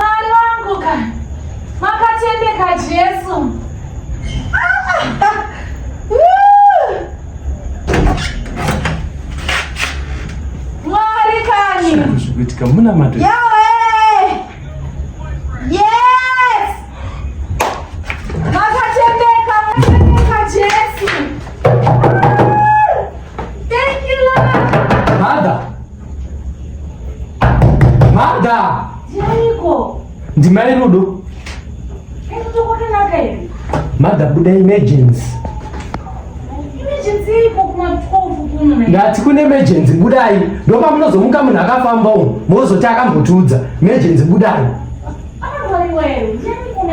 Mwari wangu ka makatendeka Jesu. Mwari kani. Zvikuitika muna mato. Yahweh. Yes. Makatendeka, makatendeka Jesu. Mada. Chaiko. Ndimai Rudo. Eto kwakanaka iri. Mada buda emergency. Emergency iko kuma 12 kuno. Ndati kune emergency budai. Ndopa munozomuka munhu akafamba umu. Mozoti akambotiudza. Emergency budai. Apa wewe. Ndiyani kuna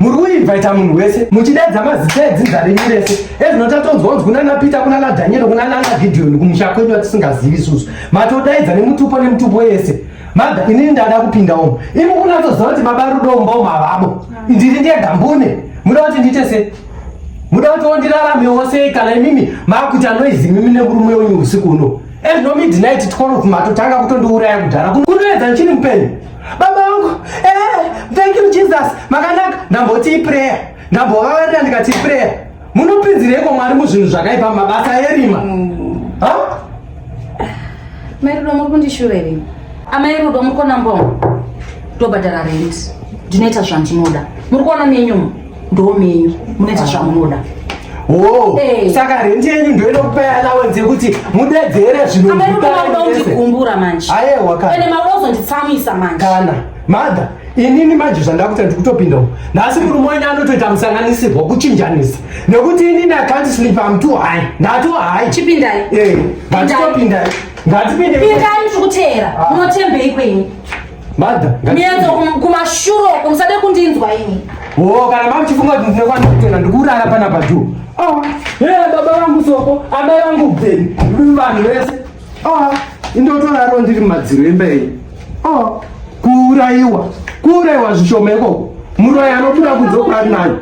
muri kuinvaita munhu wese muchidedza mazita edzinza renyu rese ezvino tatonzwa unzi kunana peter kunana dhanyero kunana ana gidhiyoni kumusha kwenyu atisingazivi isusu matodaidza nemutupo nemutupo yese mada inini ndada kupinda umo imi kunatoziva kuti baba rudo umba umo havabo ndiri ndega mbune muda kuti ndiite se muda kuti ondirarame wose kana imimi maakuti anoizi imimi nemurume wenyu usiku uno ezvino midnight 12 matotanga kutondiuraya kudhara kunoedza ndichiri mupenyu baba vangu eh, thank you jesus makanaka ndamboti iprayer ndambovavarira ndikati iprayer munopinzireiko mwari muzvinhu zvakaipa mabasa erima mm. mairudo muri kundishuveri amairudo muri kona mbongo tobhadhara rent ndinoita zvandinoda muri kuona nenyuma ndomenyu munoita zvamunoda Oh, hey. Saka rendi yenyu ndoenda kupai allowance yekuti mudedzere zvinodigumbura manje ayewa ende mauda kuzonditsamwisa manje kana madha inini manje zvandakuta ndikutopinda uko nhasi murume wenyu anotoita musanganisirwa kuchinjanisa nekuti inini akanti sleep am too high ndatu high chipindai eh, ngatitopindai ngatipindai pindai muchikuteera ah. munotembei kwenyu Mother, mienzo kumashuro uko musade kundinzwa ini. Oh, kana mama chifunga kuti ndine kwana kutenda ndikurara pana pajuu. Oh, yeah, baba wangu soko, amai wangu bveni, ndiri vanhu vese. Oh, indotoraro ndiri mumadziro emba iyi. Oh, kuuraiwa, kuuraiwa zvishoma ikoko. Muroyi anobuda kunze kurari nayo.